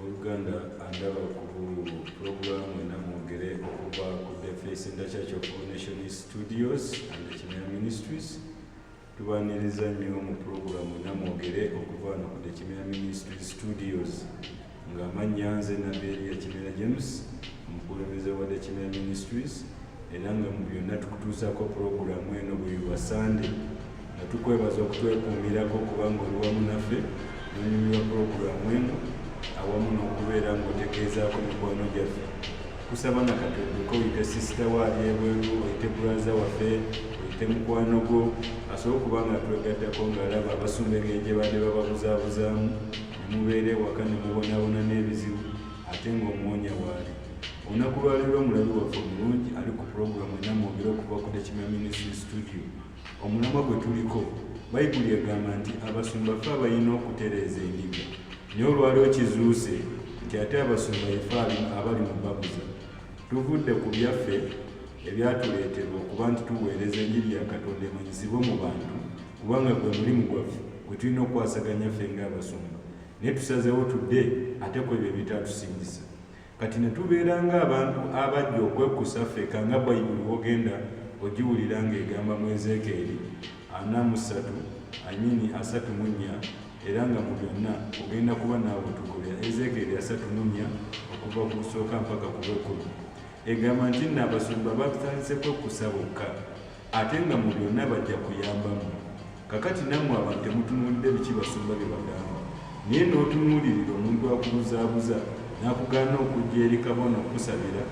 oluganda andaba ku pulogulaamu ena mwogere okuva ku defesi nda church of all nation studios and kimera ministries tubaniriza nnyo mu pulogulaamu ena mwogere okuva no ku dekimera ministry studios ng'amannya nze nabeeri ya kimera james omukulembeze wa dekimera ministries era nga mu byonna tukutuusako pulogulaamu eno buli lwa sande Tukwebaza okutwekuumirako kubanga oli wamu naffe nonyumirwa pulogulaamu eno awamu n'okubeera ng'otegeezaako mikwano gyaffe kusaba na kati odduke oyite sisita wo ali ebweru oyite bulaza waffe oyite mukwano gwo asobola okuba nga twegaddako ng'alaba abasumba engeri gye badde bababuzaabuzaamu ne mubeera ewaka ne mubonaabona n'ebizibu ate ng'omuwonya waali olunaku lwaliro omulabi waffe omulungi ali ku pulogulaamu enamwogera okuva ku tekimya ministry studio Omulamwa gwe tuliko, Bayibuli egamba nti abasumba ffe abalina okutereeza endiga. Naye olwaleero kizuuse nti ate abasumba ye ffe abali mu babuza. Tuvudde ku byaffe ebyatuleeterwa okuba nti tuweereza enjiri ya Katonda emanyisibwe mu bantu kubanga gwe mulimu gwaffe gwe tulina okukwasaganya ffe ng'abasumba naye tusazeewo tudde ate ku ebyo ebitatusingisa. Kati ne tubeera ng'abantu abajja okwekkusa ffeka nga Bayibuli w'ogenda ogiwulira ng'egamba mu Ezeekeeri ana mu ssatu, I mean asatu mu nnya, era nga mu byonna ogenda kuba n'abo tukubya. Ezeekeeri asatu mu nnya okuva ku busooka mpaka ku bw'ekkumi egamba nti nno abasumba batandise kwekkusa bokka ate nga mu byonna bajja kuyamba mmwe. Kakati nammwe abantu temutunuulidde biki basumba bye bagamba, naye n'otunuulirira omuntu akubuzaabuza n'akugaana okujja eri kabona okukusabira,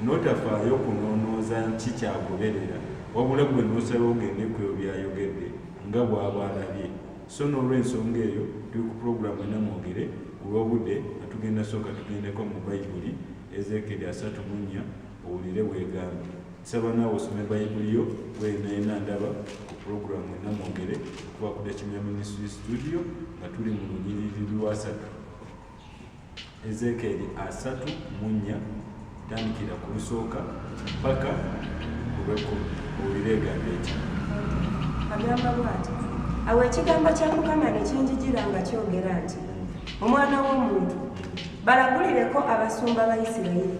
n'otafaayo kunoonooza nki ky'agoberera, wabula ggwe n'osalawo ogende ku ebyo by'ayogedde nga bw'aba alabye. Sso n'olw'ensonga eyo, tuli ku pulogulaamu ena mwogere, ku lw'obudde nga tugenda sooka tugendeko mu Bayibuli, Ezeekyeri asatu mu nnya, owulire bw'egamba. Nsaba naawe osome Bayibuli yo wenaena ndaba ku pulogulaamu enna mwogere okuba ku Dakimya Ministry Studio nga tuli mu lunyiriri lwasatu Ezekeeri asatu mu nnya tandikira ku lusooka mpaka ku lwekkumi owulire egamba eki agamba bwati awo ekigambo kya mukama ne kinjijira nga kyogera nti omwana w'omuntu balagulireko abasumba ba isirayiri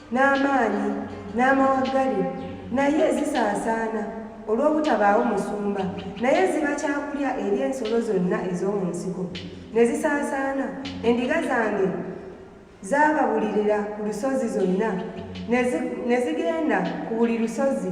n'amaanyi n'amawaggali naye zisaasaana olw'obutabaawo musumba naye ziba kyakulya eri ensolo zonna ez'omu nsiko ne zisaasaana endiga zange zaababulirira ku lusozi zonna ne zigenda ku buli lusozi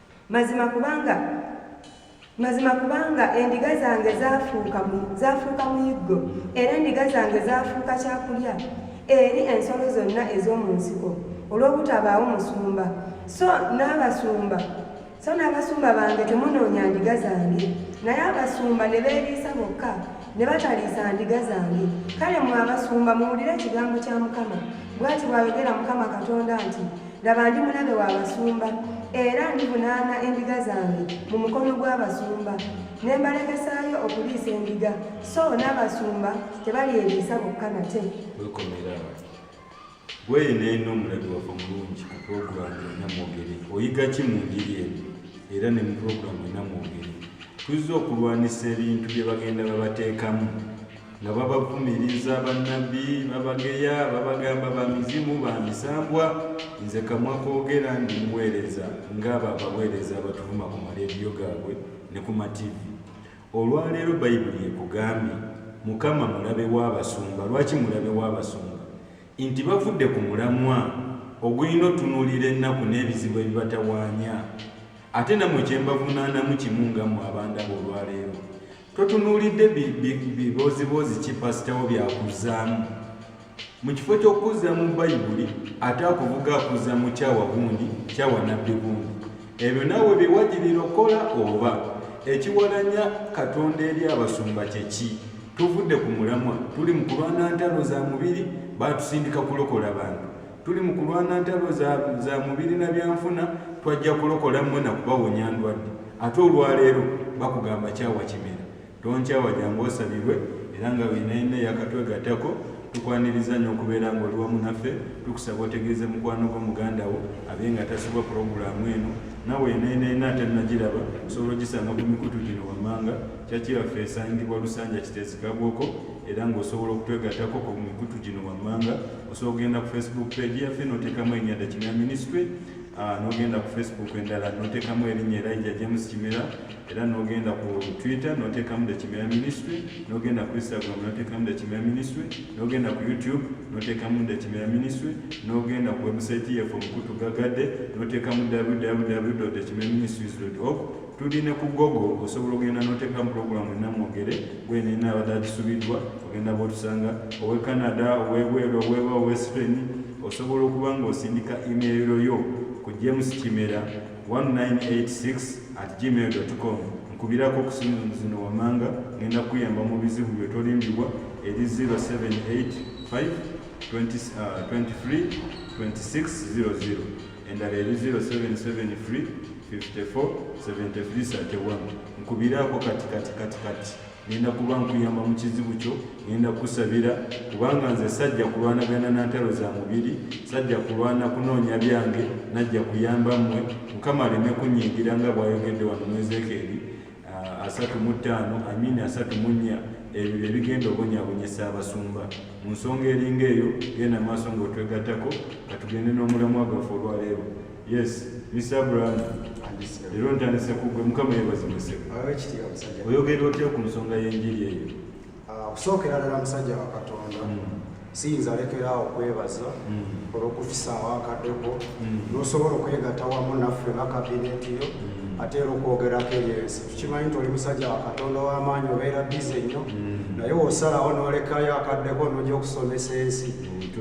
mazima kubanga mazima kubanga endiga zange zafuuka muyiggo era endiga zange zafuuka kyakulya eri ensolo zonna ez'omu nsiko olw'obutabaawo musumba so n'abasumba so n'abasumba bange temunoonya ndiga zange naye abasumba ne beeriisa bokka ne bataliisa ndiga zange kale mwe abasumba muwulire ekigambo kya mukama bwati bw'ayogera mukama katonda nti Laba ndi mulabe wa basumba, era ndivunaana endiga zange mu mukono gw'abasumba, ne mbalekesaayo okuliisa endiga, so n'abasumba tebalyeriisa bokka nate. Wekomera awo. Gwe neeno omulabi waffe omulungi ku pulogulaamu yonna mwogere. Oyiga ki mu njiri eno era ne mu pulogulaamu yonna mwogere? Tuzze okulwanisa ebintu bye bagenda babateekamu. nga babavumiriza bannabbi babageya babagamba bamizimu bamisambwa nze kamwa kogera ndi muweereza ngaabo abaweereza abatuvuma ku maleediyo gaabwe ne ku mativi olwaleero bayibuli ekugambye mukama mulabe w'abasumba lwaki mulabe w'abasumba nti bavudde ku mulamwa ogulina otunuulira ennaku n'ebizibu ebibatawaanya ate namwe kyembavunaanamu kimu nga mwe abandaba olwaleero totunuulidde bibooziboozi ki pasitawo byakuzaamu mu kifo ky'okukuzza mu bayibuli ate akuvuga akuzza mu kyawa gundi kyawa nabbi gundi ebyo naawe byewagirira okukola oba ekiwalanya katonda eri abasumba kyeki tuvudde ku mulamwa tuli mu kulwana ntalo za mubiri batusindika kulokola bantu tuli mu kulwana ntalo za mubiri na byanfuna twajja kulokola mmwe na kubawonya ndwadde ate olwaleero bakugamba kyawa kimera tonkyawa jangu osabirwe era nga winaina eyakatwegattako tukwaniriza nnyo okubeera nga oli wamu naffe tukusaba otegeeze mukwano gwo muganda wo abe nga tasibwa pulogulaamu eno nawe eneneena ate nagiraba osobola ogisanga ku mikutu gino wammanga kyakiraffe esangibwa lusanja kitezikabwoko era ng'osobola okutwegattako ku mikutu gino wammanga osobola okugenda ku facebook page yaffe notekamu erinya the kimera ministry ah, nogenda ku facebook endala notekamu erinya elija james kimera era nogenda ku twitter notekamu the kimera ministry nogenda ku instagram notekamu the kimera ministry nogenda ku youtube notekamu the kimera ministry nogenda ku website yaffe omukutu gagade notekamu www the kimera ministries org tuli ne ku gogo osobola ogenda noteeka mupulogulamu enamwogere gwenina abadde akisubiddwa ogenda botusanga owe canada owebweru oweba owespain osobola okuba nga osindika imeero yo ku james kimera 1986 at gmail com nkubirako okusimu zino wamanga ngenda kuyamba mu bizibu byetolimbibwa eri 0785 23 26 00 endala eri 077 free 547331 nkubiraako kati kati kati kati nenda kuba nkuyamba mu kizibu kyo nenda kusabira kubanga nze sajja kulwanagana na ntalo za mubiri sajja kulwana kunoonya byange najja kuyamba mmwe mukama aleme kunyingira nga bwayogedde wano mu ezekeeri Ah, asatu mu ttaano amini asatu mu nnya ebyo bye bigenda obonyaabonyesa abasumba mu nsonga eringa eyo genda maaso ng'otwegattako ka tugende n'omulamwa gwaffe olwaleero yes mr abraham leero ntandise kugwe mukama yebazimuse oyogera otya ku nsonga y'enjiri eyo okusookera ah, ddala musajja wa katonda mm. siyinza lekeraawo okwebaza mm. olw'okufisaawo akaddeko mm. n'osobola okwegatta wamu naffe nga kabineti yo ate era okwogerako eyo ensi tukimanyi nti oli musajja wa katonda w'amaanyi obeera bize nnyo naye wosalawo n'olekayo akaddeko n'oja okusomesa ensi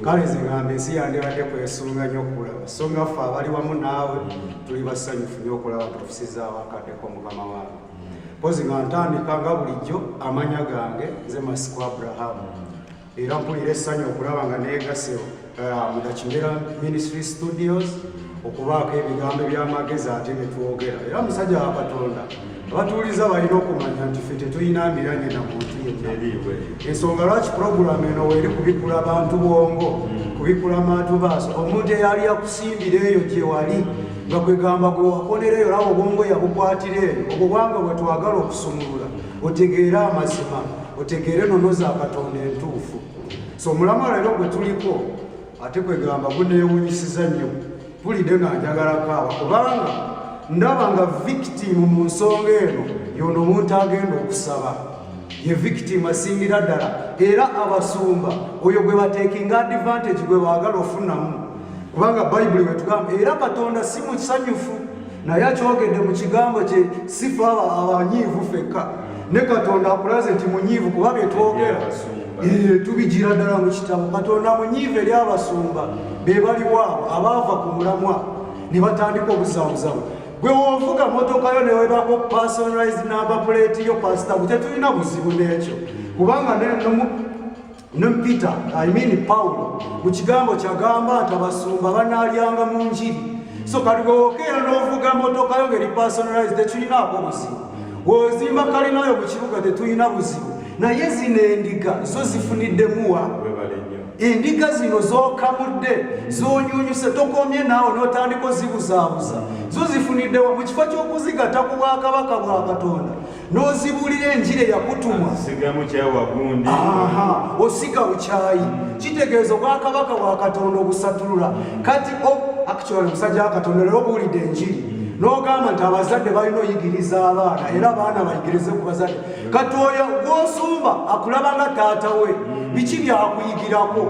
kale nze ngamba ensi yandibadde kwesunga nnyo okulaba so nga ffe abali wamu naawe tuli basanyufu nnyo okulaba nga ofisizaawakaddeko mukama wange mpozi nga ntandika nga bulijjo amanya gange nze masiku abrahamu era mpulira essanyu okulaba nga negase uh, mudakimera ministry studios okubaako ebigambo ebyamagezi ate netwogera era musajja wa katonda abatuuliza balina okumanya nti fe tetulina miranye na muntu yenna ensonga lwaki puroguramu eno weeri kubikula bantu bwongo mm. kubikula mantu baaso omuntu eyali akusimbira eyo gyewali nga kwegamba gwe wakolera eyo olaba obwongo yabukwatira eyo obwo bwange bwe twagala okusumulula otegeere amazima otegeere nono za katonda entuufu so omulamu leero gwe tuliko ate kwegamba guneewunyisiza nnyo pulidde nga njagala kaaba kubanga ndaba nga victimu mu nsonga eno yono omuntu agenda okusaba ye victim asingira ddala era abasumba oyo gwe batekinga advantage gwe baagala ofunamu kubanga bayibuli wetugamba era katonda si musanyufu naye akyogedde mu kigambo kye sifa abo abanyiivu fekka ne katonda akulaze nti munyiivu kuba byetwogera tubigira ddala mu kitabo katonda munyiivu eri abasumba be baliwaabo abaava ku mulamwa ne batandika obuzabuzabu gwe wovuga motoka yo newebako personalized number plate yo pasita gwe tetulina buzibu n'ekyo kubanga ne peter i mean pawulo mu kigambo kyagamba nti abasumba banaalyanga mu njiri so kati gwewokeera n'ovuga motoka yo ngeri personalize tetulinaako buzibu wozimba kalinayo mu kibuga tetulina buzibu naye zino endiga zo zifuniddemu endiga zino zokamudde zonyunyuse tokomye naawe notandika ozibuzaabuza zo zifuniddewa mu kifo ky'okuzigata ku bwakabaka bwa katonda n'ozibuulira enjiri eyakutumwa sigamu kyawa gundi osiga bukyayi kitegeeza obwakabaka bwa katonda obusatulula kati actual omusajja wa katonda lero obuwulidde enjiri n'ogamba nti abazadde balina oyigiriza abaana era abaana bayigirize ku bazadde kati oyo gwosumba akulaba nga taata we biki byakuyigirako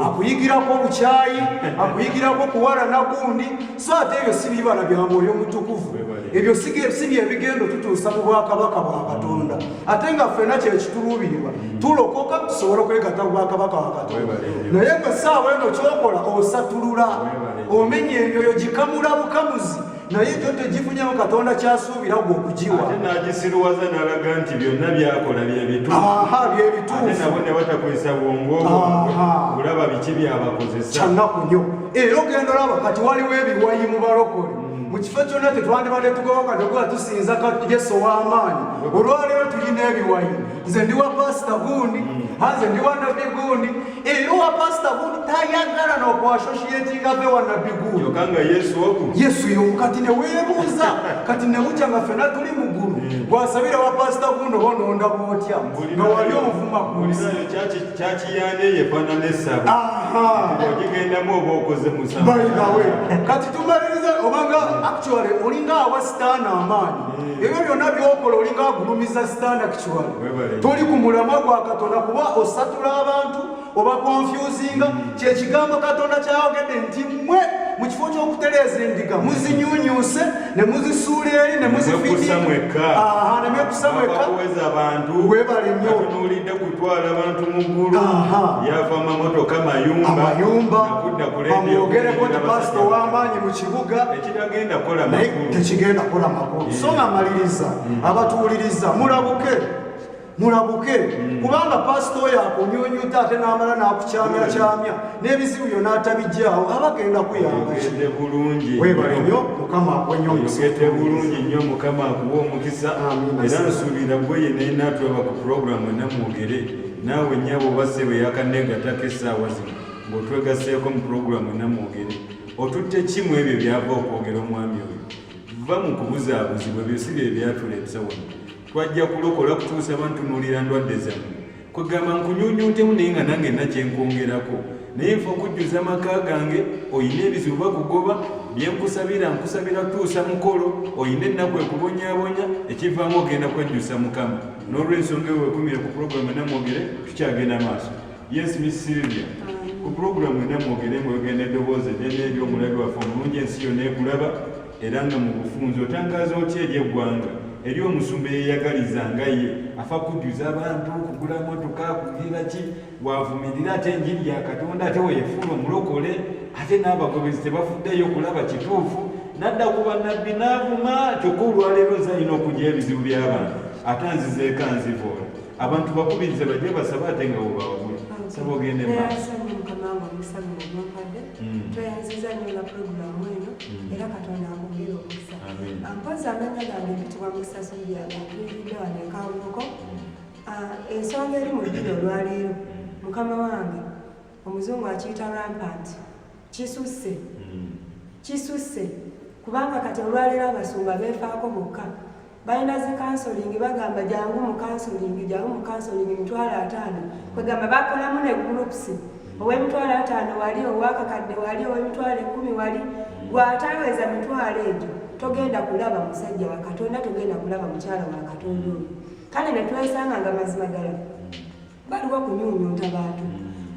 akuyigirako obukyayi akuyigirako kuwalana gundi so ate ebyo si bibala bya mwoyo mutukuvu ebyo si byebigendo tutuusa mu bwakabaka bwa katonda ate nga ffena kyekituluubirirwa tulokoka tusobole okwegata mu bwakabaka wa katonda naye gwe saawa eno kyokola osatulula omenya emyoyo gikamula bukamuzi naye ekyo tegifunyamu katonda kyasuubira gwe okugiwa nagisiruwaza nalaga nti byonna byakola byebituuha byebituufu nabo ne batakozesa bwongo kulaba biki byabakozesa kyanaku nyo era ogenda olaba kati waliwo ebiwayi mu balokole mm. mu kifo kyonna tetwandibadde tugoba kati okuba tusinza yesu ow'amaanyi mm. olwaleero tulina ebiwayi nze ndi wa pasita gundi mm. anze ndi wa nabbi gundi era owa pasita gundi tayagala nokwasoshiyetinga ve wa nabbi gundi yesu yomu kati newebuuza kati nemutya nga fena tuli mu ggulu gwasabira wa pasita gundi oba ononda bwotya nga wali omuvuma gundi kyakiyande yefana nesabo ogigendamu oba okoze musabawe kati tumaliriza obanga actually olinga awa sitaana amaanyi eh. ebyo byonna byokola olinga agulumiza sitaana actually toli ku mulamwa gwa katonda kuba osatula abantu oba konfyuzinga kyekigambo katonda kyayogedde nti mwe mu kifo ky'okutereeza endiga muzinyunyuuse ne muzisuula eri ne muzifiinemwekusa mwekka webale nyotunuulidde kutwala abantu mu ggulu yava mamotoka mayumbaamwogereko nti pasita ow'amaanyi mu kibuga tekigenda kola makulu so nga maliriza mm. abatuwuliriza mulabuke mulabuke hmm. kubanga pasita oyo akunyunyuta ate n'amala n'akukyamyakyamya hmm. n'ebizibu byo n'atabijjaawo aba agenda kuyambagende bulungi webale nyo mukama akuwenyogende bulungi nnyo mukama akuwa omukisa era nsuubira gwe ye naye naatulaba ku pulogulaamu enamwogere naawe nyabo basse bwe yakanegatako essaawa zino ng'otwegaseeko mu pulogulaamu enamwogere otutte kimu ebyo byava okwogera omwami oyo va mu kubuzaabuzibwa ebyo si bye byatuleeta wano twajja kulokola kutuusa bantunuulira ndwadde zamu kwegamba nkunyunyuntemu naye nga nange nakyenkwongerako naye nfa okujjuza amaka gange olina ebizibu bakugoba byenkusabira nkusabira kutuusa mukolo olina ennaku ekubonyabonya ekivaamu ogenda kwejjusa mukama n'olwensonga ewe wekumire ku pulogulaamu enamwogere tukyagenda maaso yes miss silvia ku pulogulaamu enamwogere mwegenda eddoboozi eddene eri omulabi waffe omulungi ensi yonna ekulaba era nga mu bufunzi otangaaza otya eri eggwanga eri omusumba eyeyagaliza nga ye afa kujjuza abantu kugula motoka kugira ki wavumirira ate enjiri ya katonda ate weyefuula omulokole ate n'abagobezi tebafuddeyo kulaba kituufu nadda ku bannabbi n'avuma kyokka olwaleero zalina okugya ebizibu by'abantu ate nzizeeko nzivoola abantu bakubirize bajje basaba ate nga webawagula saba ogende maaso Mm. tweyanziza nyo nga pulogulamu eno mm. era katonda akwongere omukisa mpozi amanya gange bitibwa mukisaso byagantuiridde wano ekanvuko mm. ah, ensonga eri mu ddini olwaleero mukama wange omuzungu akiyita rampant kisusse kisusse kubanga kati olwaleero abasumba befaako bokka balina zi kansolingi bagamba jangu mu kansolingi jangu mu kansolingi emitwalo ataano kwegamba bakolamu ne gurupusi ow'emitwalo ataano wali owakakadde wali ow'emitwalo ekkumi wali gwataweza mitwalo egyo togenda kulaba musajja wa katonda togenda kulaba mukyala wa katonda oyo kale ne twesanga nga mazima ddala baliwo kunyunyunta bantu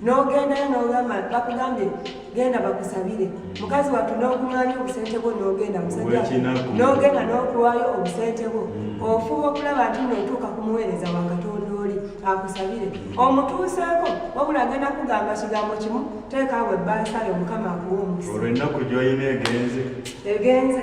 nogendayo nogamba bakugambye genda bakusabire mukazi watu nokumanya obusente bwo nogenda musajanogenda nokuwayo obusente bwo mm. ofuba okulaba nti notuuka kumuweereza wakatonda oli akusabire omutuuseeko wabula agenda kugamba kigambo kimu teekaawo ebbansayo mukama akuwa omukisa olwenaku gyoyina egenze egenze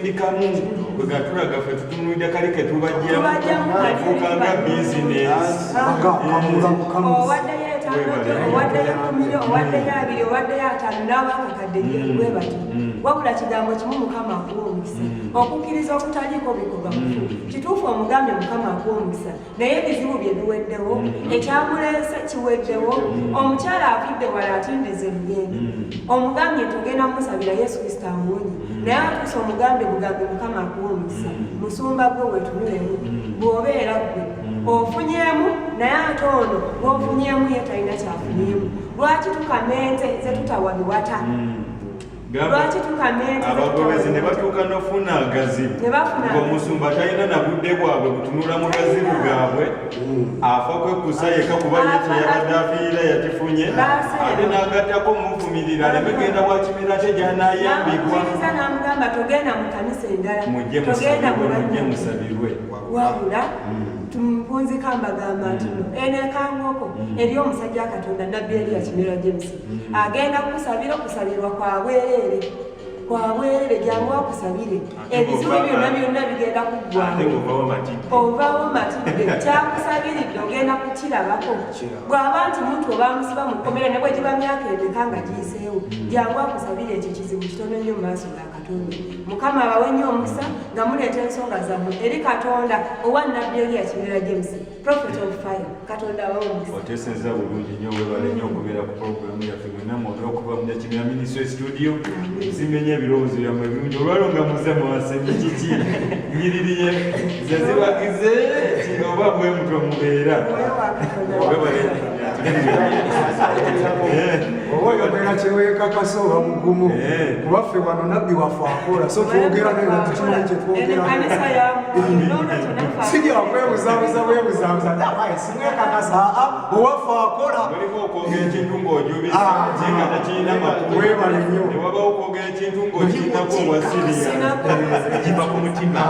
ndikamu gwe gatulaga ffe tutunulidde kali ke tubajjamufuuka nga bizinesiwaddeyo etanoto owaddeyo kumiro owaddeyo abiri owaddeyo ataano n'abakakadde bwe bati wabula kigambo kimu mukama akuwa omukisa okukkiriza okutaliiko bikolwa mufu kituufu omugambye mukama akuwa omukisa naye ebizibu bye biweddewo mm. ekyamuleese kiweddewo mm. omukyala avudde wala atindiza ebigendo mm. omugambye nti ogenda mumusabira yesu kristo amuwonye naye atuusa omugambe bugambe mukama akuwa omukisa musumba gwe wetunulemu bw'obeera gwe ofunyemu naye ate ono gwofunyemu ye talina kyafunyemu lwaki tukamenze ze tutawa biwata lwaki tukaneabagoberezi ne batuuka nofuna agazibu ngaomusumba talina na budde bwabwe butunula mu gazibu gaabwe afa kwekusa yeka kuba yekyeyabadde afiirira yakifunye ate n'agattako omuvumirira aleme genda wakimera kye gyanayambibwa mujje musabirwe wabula mpunzika mbagamba ntino mm. eno ekangoko mm. eri omusajja katonda nabbi eriya kimera james agenda kukusabira okusabirwa kwa bwereere kwa bwereere jangu akusabire ebizibu byonna byonna bigenda kuggwaovawo matidde kyakusabiridde ogenda kukirabako bw'aba nti muntu obamusiba mu kkomera ne bwe giba myaka emeka nga giyiseewo jangu akusabire ekyo kizibu kitono nnyo mu maaso ga katonda mukama abawe nnyo omukisa nga muleeta ensonga zammwe eri katonda owa nabbi eriya kimera james Prophet of Fire, Katonda wawunyisa. Oteseza bulungi nnyo webale nnyo okubeera ku programu yaffe mwenna mwona okuva mu Nyakibiina Ministry Studio. Zimenya ebirowoozo byammwe ebirungi olwalwo nga muze mwasemye kiki nyiririye zazibagize oba bwe mutwe mubeera. Webale oba oyogera kyewekakasa oba mugumu eh. kuba ffe wano nabbi waffe akola so twogera naye natukimanyi kyetwogera sijja okwebuzabuza bwebuzabuza nabaye simwekakasa aa owaffe akola mulimu okwogera ekintu ng'ojubisakinga ah. tekirina makulu webale nnyo ne wabawo okwogera ekintu ng'okirinako obwasiriyakiva ku mutima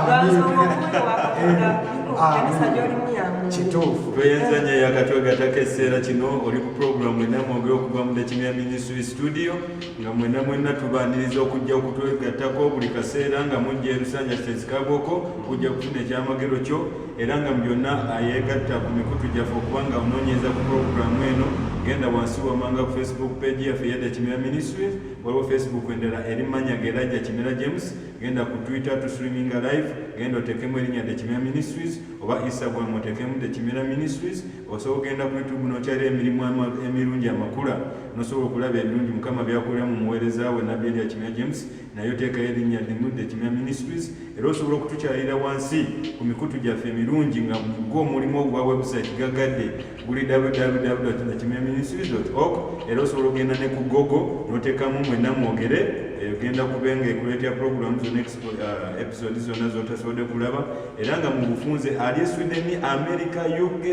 kituufu tweyanza nyo yakatwegatako ekiseera kino oli ku pulogulamu mwena mwogere okuva mu dekimya minisitry studio nga mwena mwena tubaniriza okujja okutwegattako buli kaseera nga mujja erusanja kitezikagoko ojja kufuna ekyamagero kyo era nga mu byonna ayeegatta ku mikutu gyaffe okuba nga onoonyeza ku pulogulaamu eno genda wansi wamanga ku facebook page yaffe yadda kimera ministry waliwo facebook endala eri manya gerajja kimera james genda ku twitter to streaminga live genda otekemu erinnya the kimera ministries oba instagram otekemu the kimera ministries osobola okugenda ku youtube nokyalira emirimu emirungi amakula nosobola okulaba ebirungi mukama byakolera mu muweereza we nabbi erya kimera james naye oteekayo erinnya limu the kimya ministries era osobola okutukyalira wansi ku mikutu gyaffe emirungi nga mugwo omulimu ogwa website gagadde guli www.kimyaministries org era osobola okugenda ne ku gogo n'oteekamu mwena mwogere egenda eh, kuba nga ekuleetera pulogulaamu zona uh, episode zonna zotasobodde kulaba era nga mu bufunze ali e sweden america uk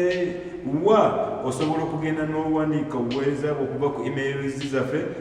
wa osobola okugenda n'owandiika obuweereza bwe okuva ku emails zaffe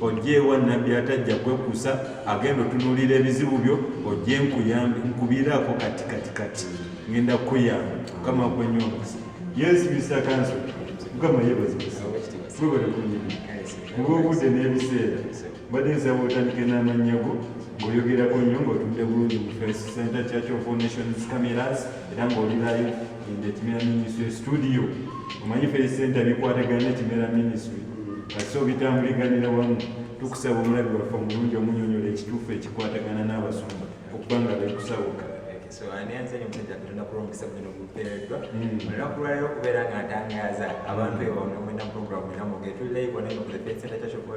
ojjeewa nabbi atajja kwekusa agenda otunuulira ebizibu byo ojje nkuyambe nkubiiraako kati kati kati ngenda kukuyamba mukama kwenyongozi yesu mr kanso mukama yebazibisa webale kunyini mubaobudde n'ebiseera mbadde nsaba otandike n'amannya go ng'oyogerako nnyo ng'otudde bulungi mu face center church of nations cameras era ng'olirayo ende kimera minisitule situdiyo omanyi fesenta bikwatagana ekimera minisitule kasi obitambuliganira wamu tukusaba omulabi waffe omulungi omunyonyola ekituufu ekikwatagana n'abasumba okuba nga bekusawuka so ani ansanye omusajja katonda kuba omukisa guno gupeereddwa olunaku lwaliro okubeera nga ntangaaza abantu ewano mwena programu era mugetulaivo naye mukuze fesenta kyakyokuba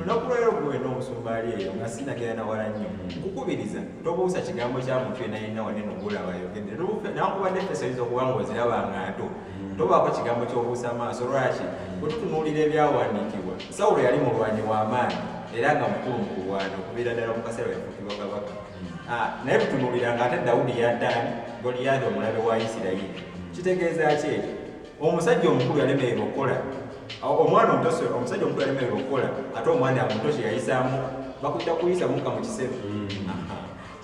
olunaku lwalero gwe wena omusumba ali eyo nga sinagera nawala nnyo nkukubiriza tobuusa kigambo kya muntu yena yenna wane nogulaba yogende nakuba nefeso yinza okuba nga oziraba nga nto tobaako kigambo kyobuusa maaso lwaki bwetutunuulira ebyawandiikibwa sawulo yali mulwanyi w'amaanyi era nga mukulu mu kulwana okubeera ddala mu kaseera yafukibwa kabaka ah, naye tutunuulira nga ate dawudi yaddaani goliyadi omulabe wa isirayiri kitegeeza ki ekyo omusajja omukulu yalemererwa okukola omwana omuto omusajja omukulu yalemererwa okukola ate omwana omuto kyeyayisaamu bakujja kuyisa muka mu kiseera mm.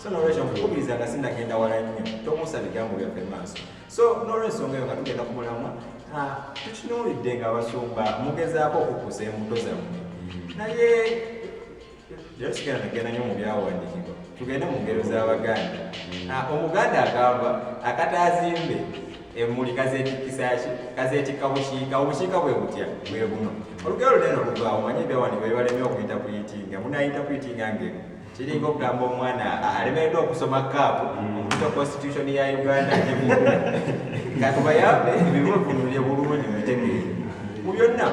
so nolwekyo nkukubiriza nga sinagenda wala nnyo tomuusa bigambo byaffe maaso so nolwensonga eyo nga tugenda ku mulamwa ah, tukinuulidde nga abasumba mugezaako okukusa embuto zammwe mm. naye Leero tugenda nagenda nnyo mu byawandiikibwa tugende mu ngero z'Abaganda. Mm. Ah, Omuganda agamba akataazimbe emmuli kazeetikkisa ki kazeetikka bukiika obukiika bwe butya bwe buno olugero lunene olugwawo manye ebyawandiikibwa bibalemye okuyita kuyitinga munayita kuyitinga ngeno kiringa okugamba omwana alemereddwa okusoma kaapu mm. okuta constitution ya uganda katubayambe ebibuno tunulire bulungi mubitegeere mu byonna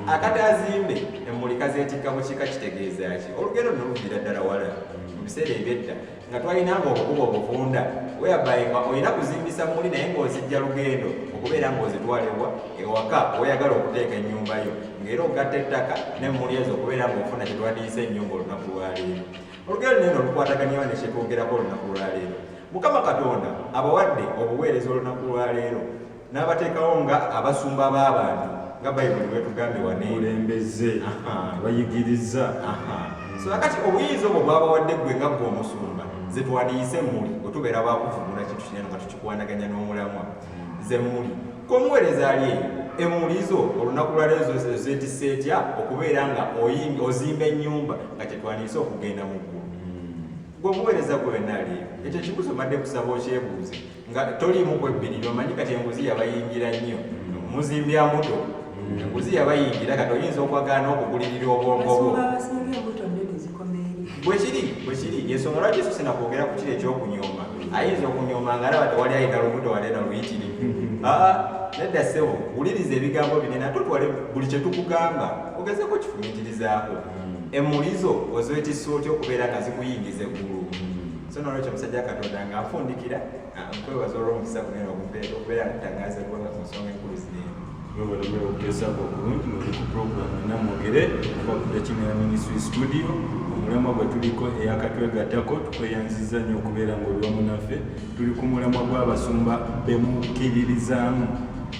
akati azimbe emmuli kazeetikka mu kika kitegeeza ki olugendo no luviira ddala wala mu biseera ebyedda nga twalina nga okukuba obufunda weyabaye nga olina kuzimbisa muli naye ng'ozijja lugendo okubeera ng'ozitwalibwa ewaka oyagala okuteeka ennyumba yo ng'era ogatta ettaka ne muli ezo okubeera ng'ofuna kye twandiyise ennyumba olunaku lwaleero olugendo neno lukwataganyawo ne kyetwogerako olunaku lwaleero mukama katonda abawadde obuweereza olunaku lwaleero n'abateekawo nga abasumba b'abantu nga bayibuli bwetugambye waneulembeze bayigiriza so akati obuyinza obwo bwabawadde gwe nga gwe omusumba nze twandiyise muli otubeera bakuvumula kintu kinene nga tukikwanaganya n'omulamwa nze muli komuweereza ali eyo emulizo olunaku lwaleero zetisa etya okubeera nga ozimba ennyumba nga kyetwandiyise okugenda mu ggulu gwe omuweereza gwe wenna ali eyo ekyo ekibuzo madde kusaba okyebuuze nga toliimu kwebbirira omanyi kati enguzi yabayingira nnyo muzimbya mbuto enguzi yabayingira kati oyinza okwagala n'okugulirira obwongo bwo bwekiri bwekiri yensonga lwaki yesu sina kwogera ku kiri ekyokunyooma ayinza okunyooma nga alaba tewali ayina lubuto walena luyitiri aa nedda ssebo wuliriza ebigambo binene ate otwale buli kye tukugamba ogezeeko kifumitirizaako emulizo ozoetisa otya okubeera nga zikuyingiza eggulu so nolwekyo omusajja katonda nga afundikira ah, nkwebaza olw'omukisa gunene ogumpeera okubeera ntangaza eggwanga ku nsonga enkulu zineeno webalabula okugezaako okulungi muli ku puroguramu ena mwogere okuba ku dakimera ministry studio omulamwa gwe tuliko eyakatwegattako tukweyanziza nnyo okubeera ng'oli wamu naffe tuli ku mulamwa gw'abasumba bemukkiririzaamu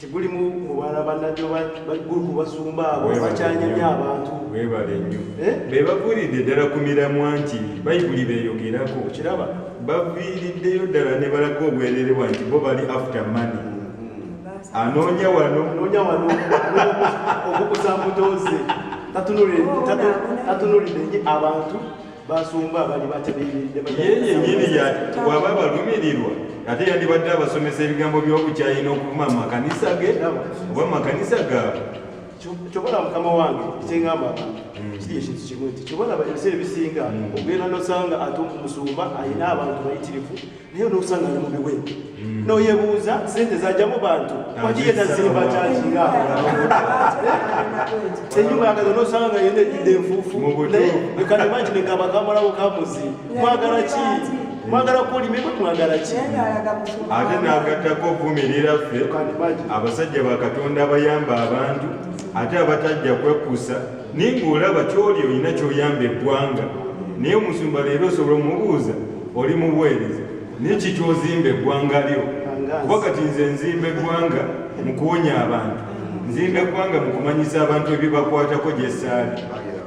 tegulimu mubala banabyo bagulu kubasumba abo bakyanyamya abantu webale nnyo eh? be baviiridde ddala ku miramwa nti bayibuli beeyogerako okiraba baviiriddeyo ddala ne balaga obwerere bwa nti bo bali after money mm-hmm. anoonya wano anoonya wano okukusa mbutoze tatunulidde nyo abantu basumba abali batebeeredde bwaba balumirirwa ate yandibadde abasomesa ebigambo by'obukyayi n'okuvuma mu makanisa ge oba mu makanisa gaabwe kyobola mukama wange kyengamba hmm. kiri ekintu kimu nti kyobola ebiseera ebisinga hmm. ogenda nosanga ate omusumba alina abantu bayitirivu naye nosanga ali mubiwe hmm. noyebuuza sente zajamu bantu wakiyetazimba kyakinga enyumba yagaza nosanga nga yena ejjudde enfuufu naye ekati bangi negamba kamalawo kamuzi mwagala ki mwagala kulima ebwe mwagala ki ate nagattako ovumirira ffe abasajja bakatonda abayamba abantu ate abatajja kwekusa naye ngaolaba kyoli olina kyoyamba eggwanga naye omusumba leero osobola omubuuza oli mubuweereza naye kikyozimba eggwanga lyo kuba kati nze nzimba eggwanga mu kuwonya abantu nzimba eggwanga mu kumanyisa abantu ebibakwatako gyesaali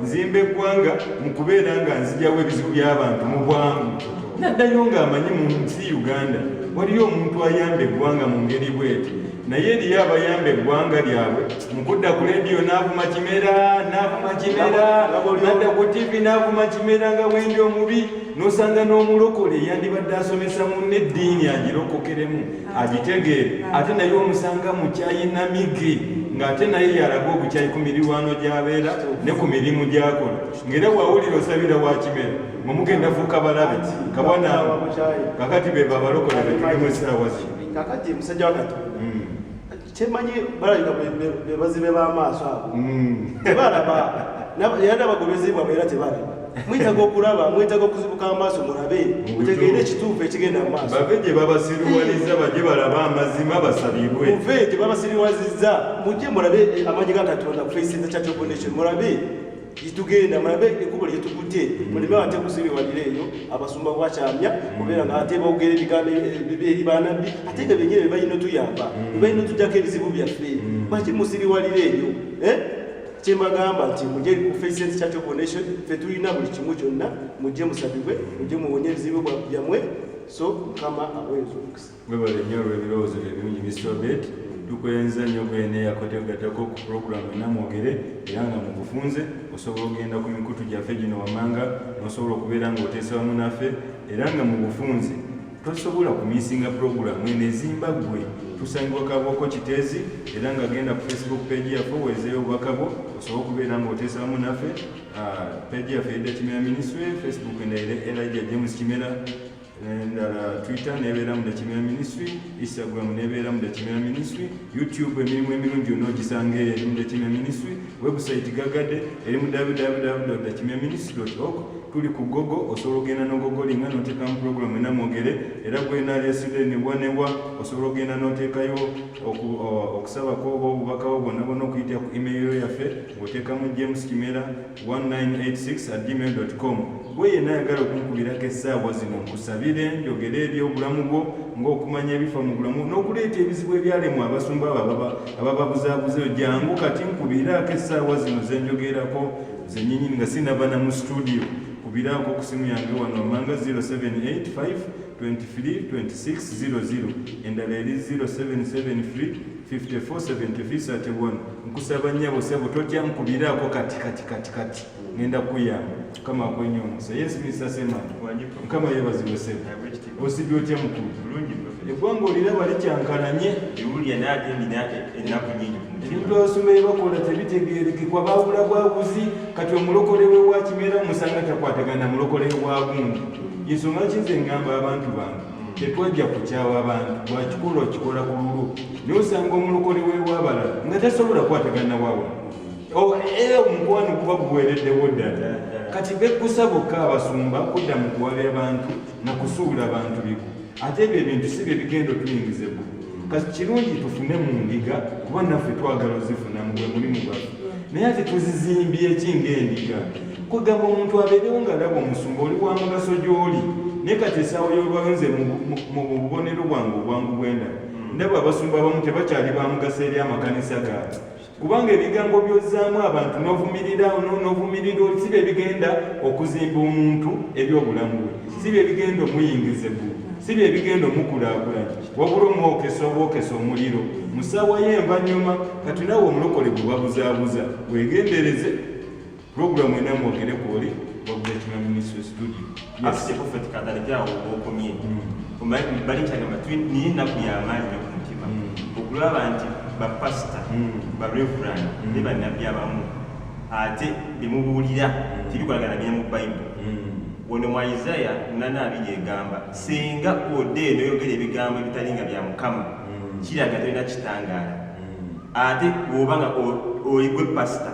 nzimba eggwanga mu kubeera nga nzijawo ebizibu by'abantu mu bwangu naddayo ng'amanyi mu nsi uganda waliyo omuntu ayamba eggwanga mu ngeri bweti naye eriyo abayamba eggwanga lyabwe mu kudda ku lediyo n'avuma kimera n'avuma kimera nadda ku tivi n'avuma kimera nga wendi omubi nosanga n'omulokole yandibadde asomesa munne eddiini agirokokeremu agitegeere ate naye omusanga mukyayi namigi ng'ate naye yalaga obukyayi ku mirirwano gy'abeera ne ku mirimu gy'akola ng'era wawulira osabira wakimera mwe mugenda fuuka balabe kabona kakati be babalokole betulimu esaawa zino kakati musajja wa katonda hmm. kyemanyi balabika bebazibe b'amaaso abo hmm. tebalaba era n'abagoberezi bwabwe era tebalaba mwetaga okulaba mwetaga okuzibuka amaaso mulabe mutegeere ekituufu ekigenda mumaaso bave gye babasiriwaliza baje balabe amazima basabibwe muve gye babasiriwaliza mujje mulabe amanyi ga katonda kufaisiza church of nation mulabe tugenda mulabe ekkubo lye tukutte muleme ate kusibiwalira eyo abasumba bwakyamya kubeera nga ate boogera ebigambo eri banabbi ate nga benyini bebalina otuyamba bebalina otujjako ebizibu byaffe baki musibiwalira eyo eh? kyembagamba nti muje ku faces church of nation fe tulina buli kimu kyonna mujje musabibwe mujje muwonye ebizibu byammwe so mukama abwezi omukisa Webale nnyo olw'ebirowoozo ebirungi Mr. Obed. Tukwenza nnyo kweneeya kwetegattako ku pulogulaamu ena mwogere era nga mu bufunze osobola okugenda ku mikutu gyaffe gino wammanga n'osobola okubeera ng'oteesa wamu naffe era nga mu bufunze tosobola kumisinga pulogulaamu eno ezimba ggwe tusangibwa kabooko kiteezi era nga genda ku facebook peegi yaffe oweezeyo obubaka bwo osobola okubeera ng'oteesa wamu naffe ah, peegi yaffe edda kimera minisitule facebook endayire elija james kimera endala twitter nebeera mu dakimera ministry instagram nebeera mu dakimera ministry youtube emirimu emirungi yonna ogisanga eri mu dakimera ministry website gagade eri mu www dakimera ministry org tuli ku gogo osobola ogenda nogogolinga notekamu program ena mwogere era gwenaleside newa newa osobola ogenda notekayo okusabako oba obubakawo bwonna bwonna okuyitira ku email yaffe ngotekamu james kimera 1986@gmail.com gwe yenna ayagala okunkubirako essaawa zino nkusabire njogere ebyobulamu bwo ng'okumanya ebifa mu bulamu n'okuleeta ebizibu ebyalemwa abasumba abo abababuzaabuza eyo jangu kati nkubiraako essaawa zino ze njogerako zenyinyini nga sinava na mu situdiyo kubiraako ku simu yange wano amanga 0785 23 26 00 endala eri 0773 547331 nkusaba nyabo sebo totya nkubiraako kati kati kati kati ngenda kuyamba mukama akwenye omusa yes mr sema mukama yebazibwe sebo osibye otya mukulu eggwanga oliraba likyankalanye ebintu abasumbaye bakola tebitegeerekekwa baawula bwabuzi kati omulokole wewakimera musanga takwatagana mulokole wagundi yensonga kinze ngamba abantu bange tetwajja kukyawa abantu lwakikola okikola ku lulu naye osanga omulokole wewabala nga tasobola kwatagana wawa oh, eh, omukwano kuba guwereddewo ddala kati bekkusa bokka abasumba kudda mu kuwabya bantu na kusuula bantu biku ate ebyo ebintu si bye bigenda otuyingizeku kati kirungi tufune mu ndiga kuba naffe twagala ozifunamu bwe mulimu gwaffe naye ati tuzizimbye ki ngaendiga kugamba omuntu abeerewo nga laba omusumba oli wa mugaso gy'oli naye kati esaawa y'olwayo nze mu bubonero bwange obwangu bwenda hmm. ndaba abasumba abamu tebakyali ba mugaso eri amakanisa gaabwe kubanga ebigambo byozaamu abantu novumirira novumirira si bye bigenda okuzimba omuntu ebyobulamu bwe si bye bigenda omuyingiza eggulu si bye bigenda omukulaakulanya wabula omwokesa obwokesa omuliro musaawa ye envanyuma kati nawe omulokole gubabuzaabuza wegendereze Program ena mwogere kwoli wabuletima ministry studio asije prophet kadali jawo okomye omaye mm. bali changa matwi ni na kuyamani na kumutima mm. okulaba nti ba pastor mm. ba reverend ne ba nabi abamu ate bimubulira tibikolagana bya mu bible wono mwa Isaiah nana abije gamba singa ode no yogere bigambo bitalinga bya mukama kiraga tena kitangara ate wobanga oyigwe pastor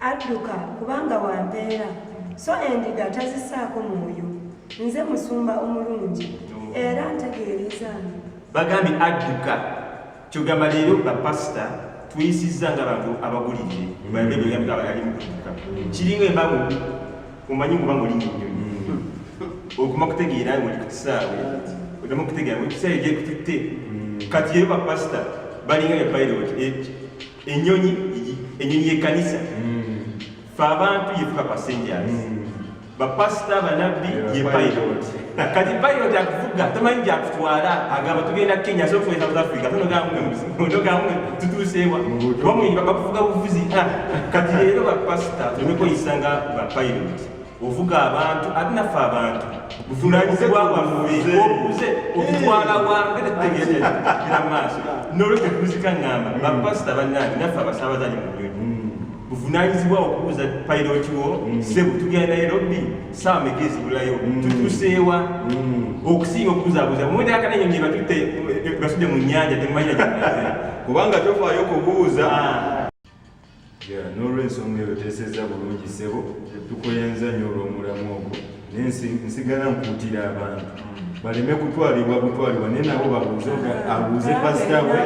adduka kubanga wampeera so endiga tazisaako mwoyo nze musumba omulungi era ntegeerezange bagambye adduka kyogamba leero bapasita tuyisizza nga bantu abagulidde balimu kuduka kiringa embago omanyi kuba ngoli kinyonyi okuma kutegeera ngoli ku kisaawe odamu okutegeera ngoli kisaawe gyekututte kati yeyo bapasita balinga ne pilot enyonyi enyonyi yekanisa fe abantu yefuka passengers bapasita banabbi ye pilot kati pilot akuvuga tamanyi gyakutwala agamba tugenda kenya so tugenda south africa tonogamwe tutuuseewa bamuyimba bakuvuga buvuzi ah, kati leero bapasita tunekoyisa nga bapilot ovuga abantu ate naffe abantu buvunanyizibwa bwaffe obuze okutwala wange tetegeera maaso nolwekyo tuzika ngamba bapasita bannange naffe abasabazaji mu nyonyi buvunanyizibwa okubuuza pilot wo mm. sebo tugenda nairobi saawa meka ezibulayo mm. tutuseewa mm. okusinga okubuzabuza mumwete akanenyo nye batutte basudde mu nyanja temumanya kubanga tofaayo okubuuza ah. nolwensonga eyo teseza bulungi sebo tukuyenza nyo olwomulamwa ogwo naye nsigala nkuutira abantu baleme kutwalibwa butwalibwa naye nabo babuuze abuuze pasita we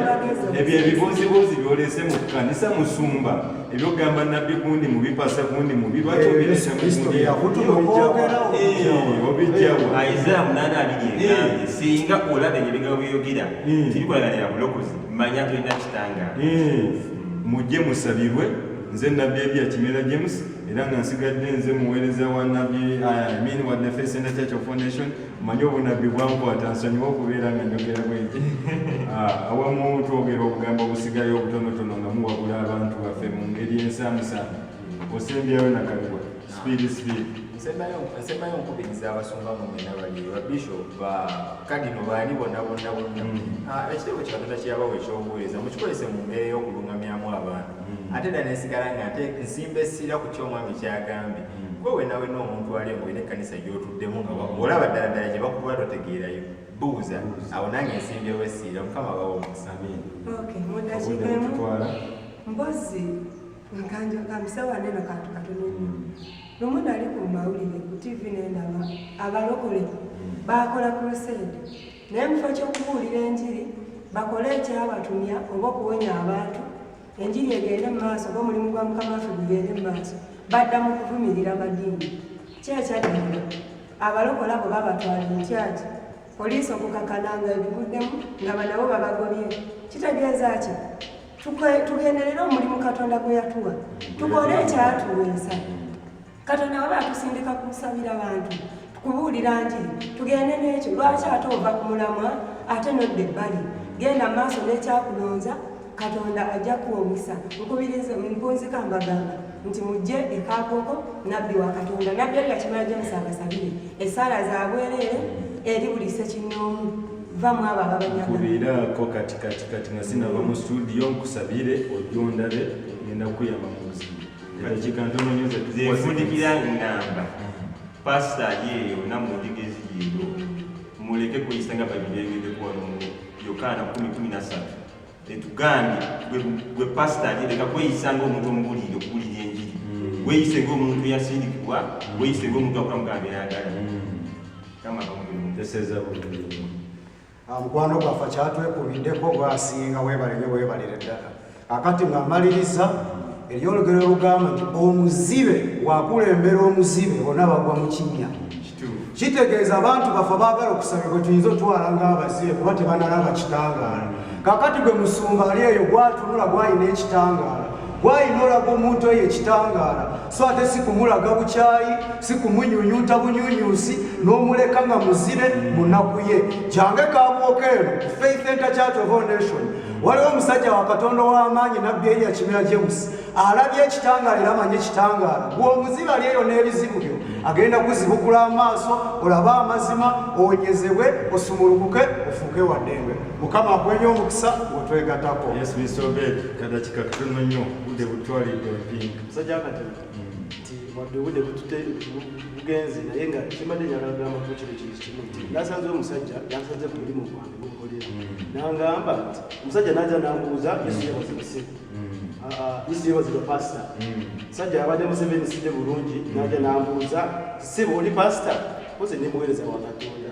ebyo ebibuuzibuuzi byolese mu kanisa musumba ebyokugamba nabbi gundi mubi pasa gundi mubi lwaki eh, obirese mubijawoobijjawosinga eh, eh. olaba ebyo bigabo byeyogera tibikulaganira bulokozi manya tolina kitanga mujje musabirwe nze nabbi ebya kimera james era nga nsigadde nze muweereza wa nabbi amin wadde fesenda church of foundation manye obunabbi bwankwata nsonyiwa okubeera nga njogera bweki ah, awamu twogera obugambo obusigayo obutonotono nga muwabula abantu baffe mu ngeri ensamusamu osembyayo nakalibwa sipiidi sipiidi nsembayo nkubiriza abasumba mumena bali babishop ba kadino baani bonna bonna bonna mm. ah, ekitebo kikatonda kyeyabawa ekyobuweereza mukikozese mu mbeera ey'okulungamyamu abantu mm. ate dda nesigala nga nte nsimba essira ku kyo omwami kyagambye mm. gwe wenawe n'omuntu ali omu era ekkanisa gy'otuddemu nga olaba ddala ddala gye bakuba totegeerayo buuza awo nange nsimbyewo essira mukama bawa omukisa mbozi nkanjo kamisawa neno kantu katono mm. lumu nali ku mawulire ku tivi nendaba abalokole bakola crusade naye mu kifo ky'okubuulira enjiri bakole ekyabatumya oba okuwonya abantu enjiri egende mu maaso oba omulimu gwa mukama waffe gugende mu maaso badda mu kuvumirira madiini kyekyadinda abalokola bwe babatwala entyaki poliisi okukakana nga ebiguddemu nga banabo babagobye kitegeeza ki tugenderere omulimu katonda gwe yatuwa tukole ekyatuweesa katonda waba atusindika kumusabira bantu kubuulira nti tugende n'ekyo lwaki ate ova ku mulamwa ate nodda ebbali genda mu maaso n'ekyakulonza katonda ajja kuwa omukisa nkubiriza mpunzika mbagamba nti mujje ekaakoko nabbi wa katonda nabbi ali yakimala james abasabire esaala zabwereere eri buli sekinnoomu vamu abo ababanyagakubiraako kati kati kati nga sinava mu studio nkusabire ojja ondabe ngenda kuyamba mu buzibu nfundikira ngamba pasita yeeyo namundigezi yeeyo muleke kuyisa nga babirengedekwano yokaana 113 etugambye gwe pasita yereka kweyisa ngaomuntu omubulire okubulira enjiri mm. weyise ngaomuntu yasindikibwa mm. weyise ngaomuntu akulamugambe yagala mm. kama kamu This is a amukwano gwaffe kyatwekubiddeko gwasinga webale nyo webalire ddala akati nga mmaliriza eriyo olugero olugamba nti omuzibe wakulembera omuzibe bona bagwa mu kinnya kitegeeza abantu baffe baagala okusaba bwe tuyinza otwala ng'abazibe kuba tebanalaba kitangaala kakati gwe musumba ali eyo gwatunula gwalina ekitangaala gwalina olaga omuntu eyo ekitangaala so ate sikumulaga bukyayi sikumunyunyuta bunyunyusi n'omuleka nga muzibe munaku ye jange kabwokeero faith enter church of all nation waliwo omusajja wa katonda ow'amaanyi nabbi eriya kimera james alabye ekitangaala era amanyi ekitangaala bw'omuziba ali eyo n'ebizibu byo agenda kuzibukula amaaso olabe amazima owonyezebwe osumulukuke ofuuke waddembe mukama akwenye omukisa wetwegatako musajja akatema nti wadde obudde butute bugenzi naye nga kimbadde njagala kugamba ku kino kintu kimu nti nasanze omusajja nasanze ku mulimu gwange gukolera nangamba nti omusajja naja nambuuza yesiyabazibise yesiyabazibwa pasita musajja yabadde museveni sidde bulungi naja nambuuza siba oli pasita koze nemuweereza wa katonda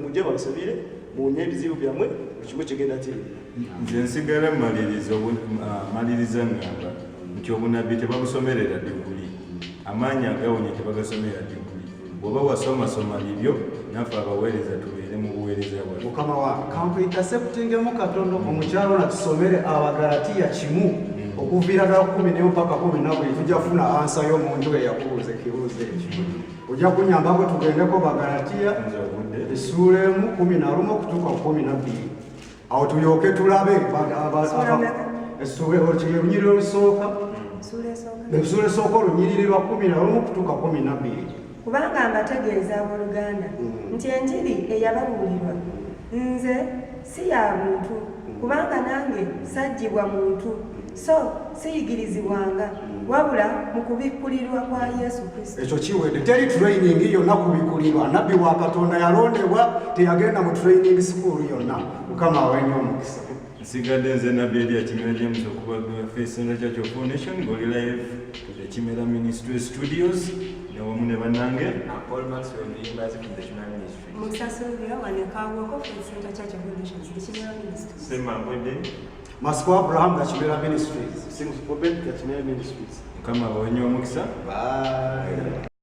mujje babasabire muwonye ebizibu byammwe buli kimu kigenda kiri nze nsigala maliriza ah, ngamba nti obunabbi tebabusomerera diguli amaanyi agawonya tebagasomerera diguli bwoba wasomasoma bibyo naffe abaweereza tubeere mu buweereza bwa mukama wa kampuyintaseptingemu katonda omukyalo ona tusomere abagalatiya kimu mm. okuviira ddala kumi nemu paka kumi nabuli tujja kufuna ansa yo mu nju eyakubuuza ekibuuzo ekyo ojja kunyambako tugendeko bagalatiya essuula emu kumi na lumu okutuuka ku kumi na bbiri awo tulyoke tulabe olunyiriri olusooka essuula esooka olunyiriri lwa kumi na lumu okutuuka kumi na bbiri kubanga mbategeeza abooluganda mm. nti enjiri eyababuulirwa nze si ya buntu mm. kubanga nange sajjibwa muntu so siyigirizibwanga wabula mu kubikkulirwa kwa yesu kristo ekyo kiwedde teri training yonna kubikkulirwa nabbi wa katonda yalondebwa teyagenda mu training sikuulu yonna mukama awenye omukisa nsigadde nze nabbi eri akimera james okuba fesenda kya foundation ngoli live ekimera ministry studios newamu ne banange musasulira wanekaawoko fesenda kya foundation ekimera ministry sema mbwedde Masiko Abraham Gachimera Ministries. Sings Prophet Gachimera Ministries. Kama wenye omukisa. Bye.